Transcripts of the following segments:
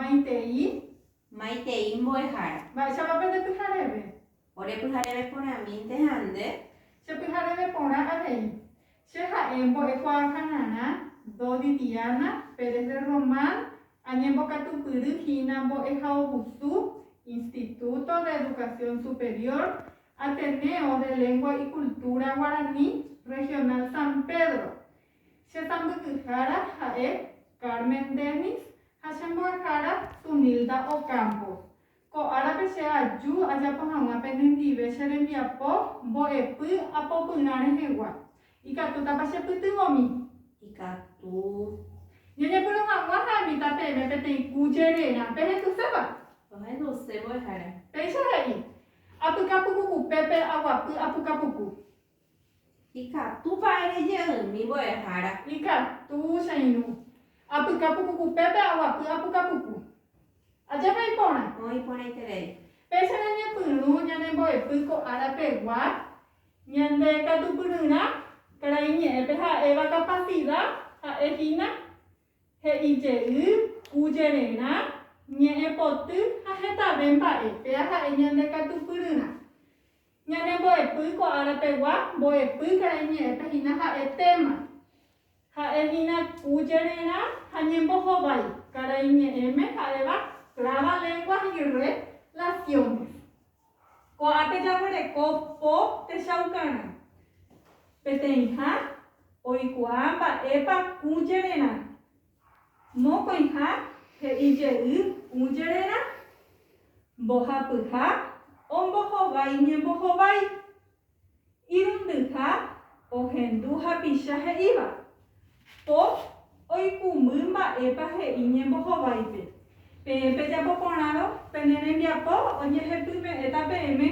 Maitei. Maitei mbo'ehára. Mba'éichapa pende pyhareve. Ore pyhareve porãmínte ha nde. Che pyhareve porã avei. Che ha'e mbo'ekuaa hanarã, Dodi Diana, Pérez de Román, añembokatupyry hína mbo'ehaovusu, Instituto de Educación Superior, Ateneo de Lengua y Cultura Guaraní, Regional San Pedro, Che sãmbyhyhára ha'e Carmen Dennis ha che mbo'ehára Tunilda Ocampo. Ko árape che aju ajapo hag̃ua penendive che rembiapo mbo'epy apopyrã rehegua. Ikatútapa che pytyvõmi? Ikatu. Ñañepyrũ hag̃ua ha'emíta peẽme peteĩ ku jererã. Pehendusépa? Ohenduse mbo'ehára. Péicha he'i, Apyka puku upépe aguapy apuka puku. Ikatúpa ere jeými mbo'ehára. Ikatu, che irũ. Apyka pukukupépe aguapy apukapuku. Ajépa iporã. Oĩ iporãiterei. Péicha ñañepyrũ ñane mbo'epy ko ára pegua, ñande katupyryrã karai ñe'ẽpe ha'éva kapasida, ha'e hína, he'i jey, ku jererã, ñe'ẽ poty ha hetave mba'e, péa ha'e ñande katupyryrã. Ñane mbo'epy ko ára pegua, mbo'epy karai ñe'ẽpe hína ha'etéma. Ha'e hína ku jererã ha ñembohovái, karai ñe'ẽme ha'éva Traba lenguas y re laciones. Ko ápe jaguereko po techaukarã. Peteĩha oikuaa mba'épa ku jererã Mokõiha he'i jey ũ jererã, Mbohapyha ombohovái ñembohovái. Irundyha ohendu hapicha he'íva, Po oikũmby mba'épa he'i ñembohováipe. Peẽ pejapo porãrõ pene rembiapo ojehepyme'ẽta peẽme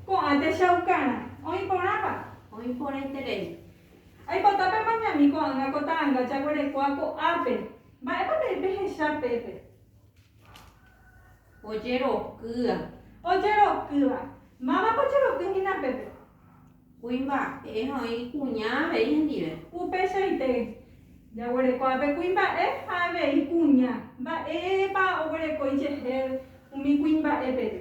ko'ã techaukarã. Oĩ porãpa? Oĩ porãiterei. Aipota pemañami ko'ág̃a ko ta'anga jaguerekóa ko'ápe. Mba'épa peẽ pehecha pépe? Ojerokýa. Ojerokýva. Mávapa ojeroky hína pépe? Kuimba'e oĩ kuña avei hendive. Upeichaite. Jaguerekóa pe kuimba'e ha avei kuña. Mba'épa oguerekói jehe umi kuimba'e pépe?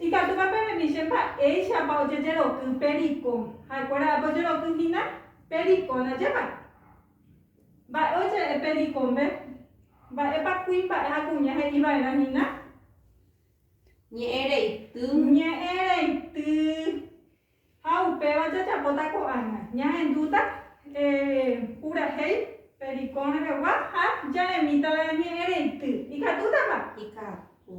Ikatúpa peremi che mba'éichapa ojejeroky pe riko. Ha'ekuéra ápe ojeroky hína pe riko ndajépa. Mba'e oje'e pe rikombe? Mba'épa kuimba'e ha kuña he'i va'erã hína? Ñe'ẽ reity. Ñe'ẽ reity. Ha upéva jajapóta ko'ág̃a. Ñahendúta purahéi pe riko rehegua ha jaremíta la ñe'ẽ reity. Ikatútapa? Ikatu.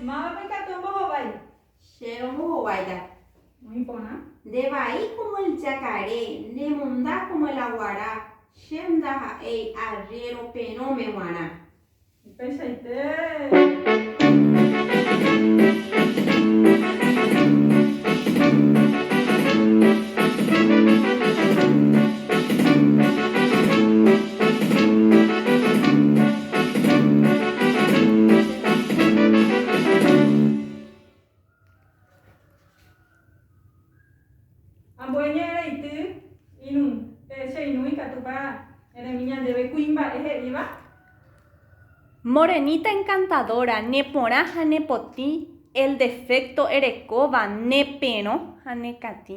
Mávapa ikatu ombohovái. Che romohováita. Oĩ porã. Nde vai como el jakare, ne monda como el aguara, chem ndaha'éi arriero perõme g̃uarã. Upeichaite. Morenita encantadora, neporã ha nepotĩ, el defecto erekóva, neperõ ha nekatĩ.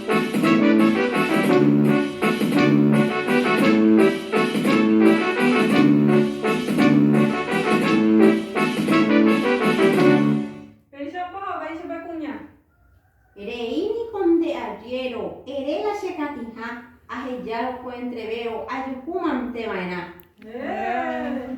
Péichapa ho'áichapa kuña. Rei niko nde arriero, ere la che katĩha, ahejárõ ko entrevero ajuhu mante va'erã. Héee.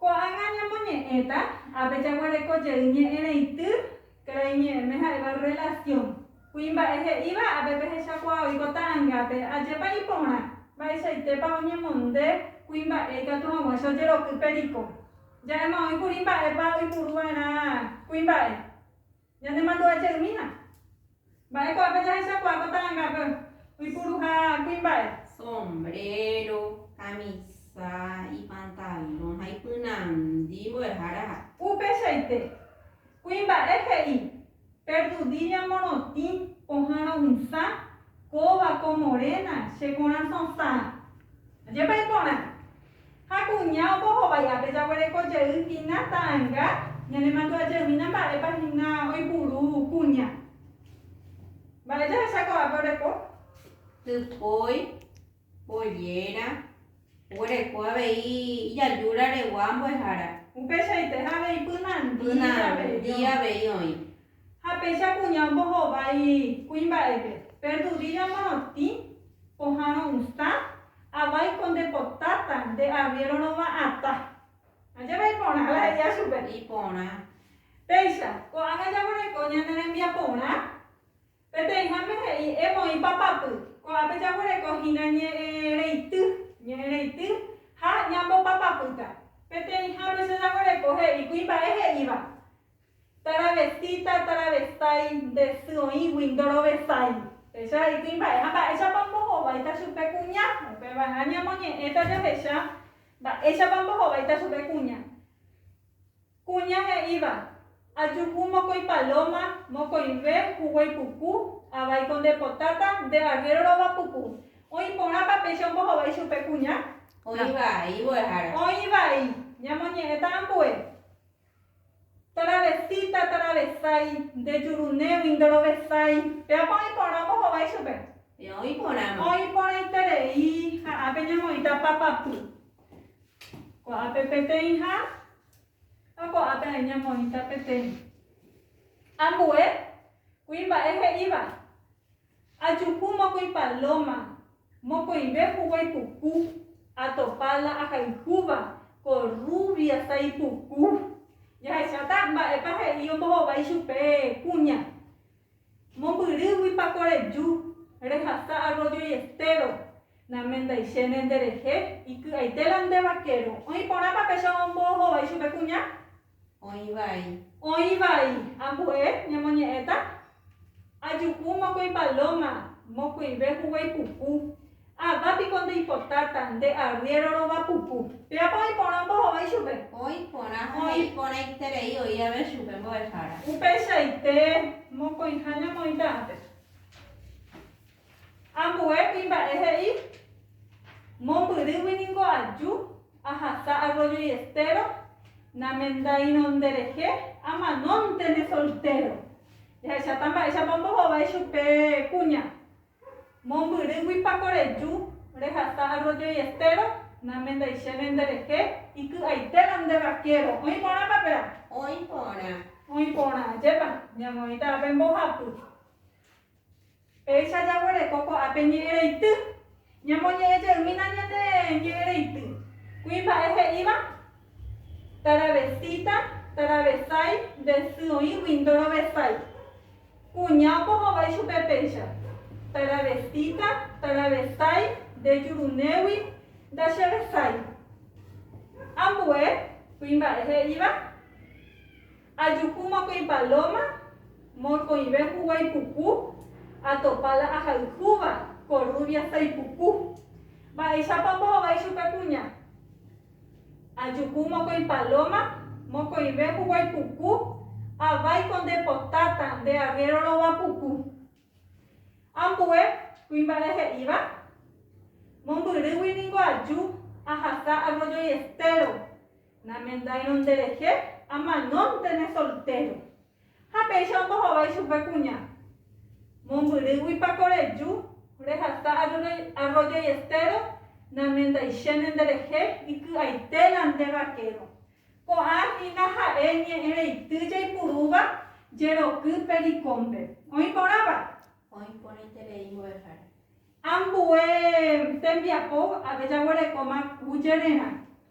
Ko'ág̃a ñamoñe'ẽta ápe jaguereko jey ñe'ẽrãity karai ñe'ẽme ha'éva rrelasión. Kuimba'e he'íva ápe pehechakuaa oiko ta'angápe, ajépa iporã, mba'eichaitépa oñemonde kuimba'e ikatu hag̃ua che ojeroky periko. Ja'éma oĩ kuri mba'épa oipuru va'erã kuimba'e. Ñanemandu'aje umína. Mba'e ko'ápe jahechakuaa ko talangápe oipuru ha kuimba'e. Sombrero, kamisa, ipantalon ha ipynandi mbo'ehára ha. Upeichaite, kuimba'e he'i, Perdudiña morotĩ, pohã ro'ysã, kóva, ko morena, che korasõ sã. Ajépa iporã. Ha kuña ombohovái ápe jaguereko jey hína ta'anga, ñanemandu'ajeymína mba'épa hína oipuru kuña. Mba'e jahecha ko'ápe oreko? Typói, polléra, oguereko avei ijajúraregua mbo'ehára. Upeichaite ha avei pynandíi avei oĩ. Ha péicha kuña ombohovái kuimba'épe, perdudilla morotĩ, pohãrõ usã, avái ko nde po táta, nde arriero rovã atã. Ha jave iporã la he'ia chupe. Iporã. Péicha, ko'ág̃a jaguereko ñane rembiaporã, peteĩháme he'i emoĩ papapy, ko'ápe jaguereko hína ñe'ẽ reity, ñe'ẽ reity, ha ñambopapapýta. Peteĩha péicha jaguereko he'i kuimba'e he'íva, Taravesíta, taravesái, nde sy oĩgui ndorovesái. Péicha he'i kuimba'e, ha mba'éichapa ombohováita chupe kuña? Upeva'erã ñamoñe'ẽta jahecha mba'éichapa ombohováita chupe kuña. Kuña he'íva, Ajuhu mokõi palóma, mokõive huguái puku, avaíko ndepotáta, nde arréro rova puku. Oĩ porãpa péicha ombohovái chupe kuña? Oĩ vai mbo'ehára. Oĩ vai, ñamoñe'ẽta ambue. Taravesíta, taravesái, nde jurunégui, ndorovesái. Péapa oĩ porã mbohovái chupe. Péva oĩ porãma. Oĩ porãiterei, ha ápe ñamoĩta papapy. Ko'ápe peteĩha, ha ko'ápe ai ñamoĩta peteĩ. Ambue, kuimba'e he'íva, Ajuhu mokõi palóma, mokõive huguái puku, atopa la ahayhúva, ko rrúvia tai puku. Jahecháta mba'épa he'i ombohova ichupe kuña. Mombyrýguipa ko reju, rehasa arrójo iestéro. Namendaichéne nderehe, iky'aite la nde vaquero. Oĩ porãpa péicha ombohova ichupe kuña? Oĩ vai. Oĩ vai. Ambu'e ñemoñe'ẽta. Ajuhu mokõi palóma, mokõive huguái puku. Ava piko ndeipotáta, nde arriéro rova puku. Péape oĩ porã mbohovái chupe. Oĩ porã ha he'i porãiterei oĩ ave chupe mbo'ehára. Upeichaite, mokõiha ñamoĩta ápe. Ambue kuimba'e he'i, Mombyrýgui ningo aju ahasa Arroyo y Estero, namendaírõ nderehe, amanóntene soltéro. Jahecháta mba'éichapa ombohovái chupe kuña. Mombyrýgui pako reju rehasa Arroyo y Estero, namendaichéne nderehe, iky'aitérõ nde vaquero. Oĩ porãpa péra? Oĩ porã. Oĩ porã. Ajépa, ñamoĩta ápe mbohapy. Péicha jaguereko ko'ápe ñe'ẽreity. Ñamoñe'ẽ jeýna ñane ñe'ẽreity. Kuimba'e he'íva, Taravesíta, taravesái, nde sy oĩgui ndorovesái. Kuña omohovái chupe péicha, Taravesíta, taravesái, nde jurunégui ndachevesái. Ambue, kuimba'e he'íva. Ajuhu mokõi palóma, mokõive huguái puku, atopa la ahayhúva, korrúvia saipuku. Mba'éichapa ombohovái chupe kuña? Ajuhu mokõi palóma, mokõive huguái puku, Avaíko nde potáta, nde arriéro rova puku. Ambue kuimba'e he'íva, Mombyrýgui ningo aju ahasa Arroyo y Estero. Namendáirõ nderehe amanónte ne soltéro. Ha péicha ombohovái chupe kuña. Mombyrýguipa ko reju rehasa arroyo y estéro namendaichéne nderehe iky'aite la nde vaquero. Ko'ã hína ha'e ñe'ẽreity jaipurúva jeroky pe rikónpe. Oĩ porãva? Oĩ porãiterei mbo'ehára. Ambue tembiapo ave jaguerekóma ku jererã.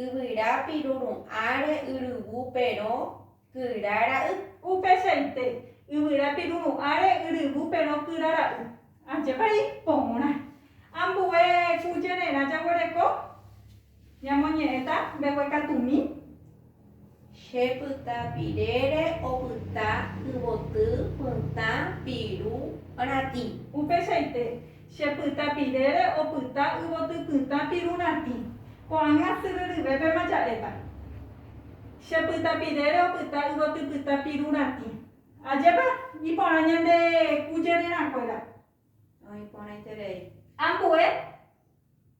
Yvyra piruru'ãre yryvu perõ kyra ra'y. Upeichaite, yvyra piruru'ãre yryvu perõ kyra ra'y. Ajépa ipõrã! Ambue ku jererã jaguereko ñamoñe'ẽta mbeguekatumi. Che pyta pirére opyta yvoty pytã piru ratĩ. Upeichaite, che pyta pirére opyta yvoty pytã piru ratĩ. Ko'ág̃a syry ryvépema ja'éta. Che pyta pirére opyta yvoty pytã piru ratĩ. Ajépa iporã ñande ku jererã kuéra. Oĩ porãiterei. Ambue.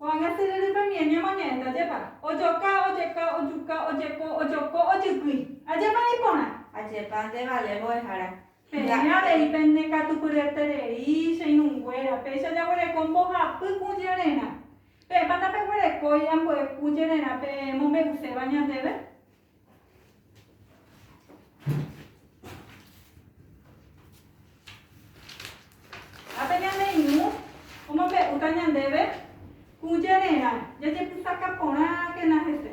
Ko'ág̃a tererépa miẽ ñamoñe'ẽta ajépa ojoka, ojeka, ojuka, ojeko, ojoko, ojykýi. Ajépa ni porã. Ajépa nde vale mbo'ehára. Peẽ avei pene katu pyeterei, che irũnguéra, péicha jaguereko mbohapy kũ jererã. Peẽpa ndapeguerekói ambue kũ jererã peẽ mombe'uséva ñandéve? Ha pe ñane irũ omombe'úta ñandéve ku jererã jajepysaka porãkena hese.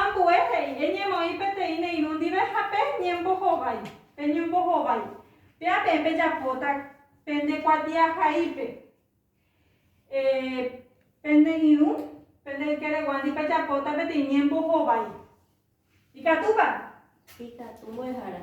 Ambue he'i, Eñemoĩ peteĩ ne irũ ndive ha pe ñembohovái, pe ñombohovái. Péa peẽ pejapóta pende kuatiahaípe, pende irũ, pende ykére guándi pejapóta peteĩ ñembohovái. Ikatúpa? Ikatu mbo'ehára.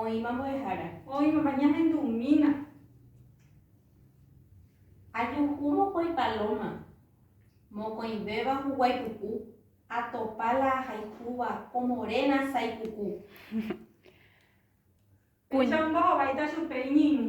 Oĩma mbo'ehára. Oĩmama ñahendumína. Ajuhu mokõi palóma. Mokõivéva huguái puku. Atopa la ahayhúva ko moréna sái puku. Péicha ombohováita chupe iñirũ.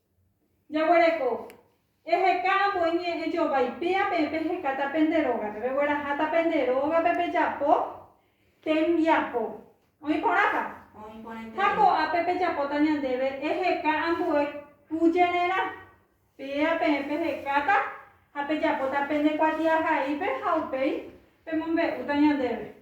Jaguereko. Eheka ambue ñe'ẽ jovái péa peẽ pehekáta pende rógape, pegueraháta pende rógape pejapo tembiapo. Oĩ porãpa? Oĩ porãite. Ha ko'ápe pejapóta ñandéve eheka ambue kujererã. Péa peẽ pehekáta ha pejapóta pende kuatiahaípe ha upéi pemombe'úta ñandéve.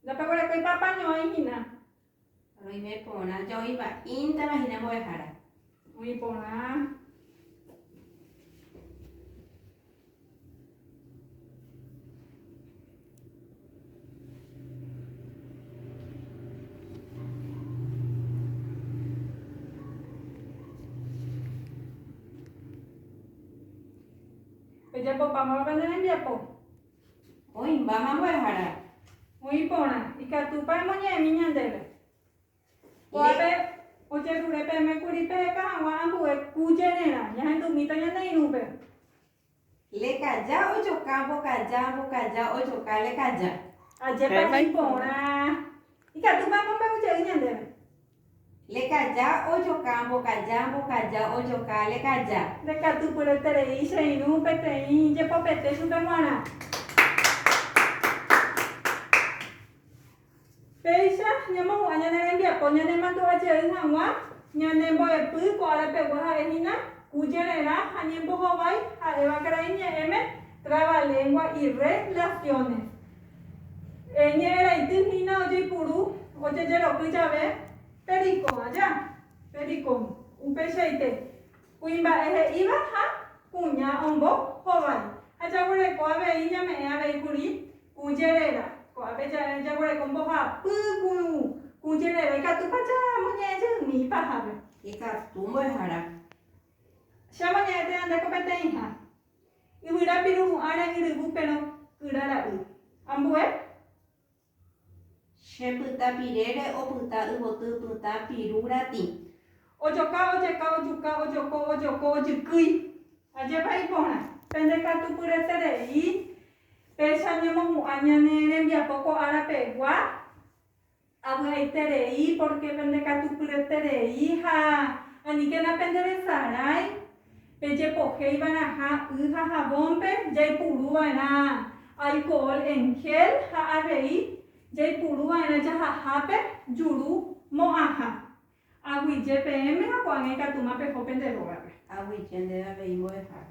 Ndapeguerekoipa pañoĩ hína. Roime porã joĩva, ĩntava hína mbo'ehára. Oĩ porã. Ejapopáma pe nerembiapo. Oĩmbáma mbo'ehára. Oĩ porã. Ikatúpa emoñe'ẽmi ñandéve. Kóape ojerure peẽme kuri peheka hag̃ua ambue ku jererã, ñahendumíta ñane irũpe. Lekaja ojoka mbokaja, mbokaja ojoka lekaja. Ajépa iporã. Ikatúpa omombe'u jey ñandéve. Lekaja ojoka mbokaja, mbokaja ojoka lekaja. Ndekatupyryterei che irũ peteĩ jepopete chupe g̃uarã. Péicha ñamohu'ã ñane rembiapo ñanemandu'a jey hag̃ua ñane mbo'epy ko ára pegua ha'e hína ku jererã ha ñembohovái ha'éva karai ñe'ẽme Trabalengua y re laciones. Ñe'ẽraity hína ojeipuru ojejeroky jave pericón aja, pericón, upeichaite kuimba'e he'íva ha kuña ombo hovái ha jaguereko avei ñame'ẽ avei kuri Kũ jerera, ko'ápe jaguereko mbohapy kũ kũ jerera, ikatúpa chamoñe'ẽ jeými ipahápe? Ikatu mbo'ehára. Che amoñe'ẽ térã nde ko peteĩha, yvyra piru ru'ãre yryvu perõ kyra ra'y. Ambue? Che pyta pirére opyta yvoty pytã piru ratĩ. Ojoka, ojeka, ojuka, ojoko, ojoko, ojykýi. Ajépa iporã. Pendekatupyreterei. Péicha ñemohu'ã ñane rembiapo ko ára pegua, avy'aiterei, pórke pendekatupyreterei ha aníkena penderesarái, pejepohéi va'erãha y ha havónpe jaipuru va'erã alkohol en gel ha avei jaipuru va'erã jahahápe juru mo'ãha. Aguyje peẽme ha ko'ág̃a ikatúma peho pende rógape. Aguyje ndéve avei mbo'ehára.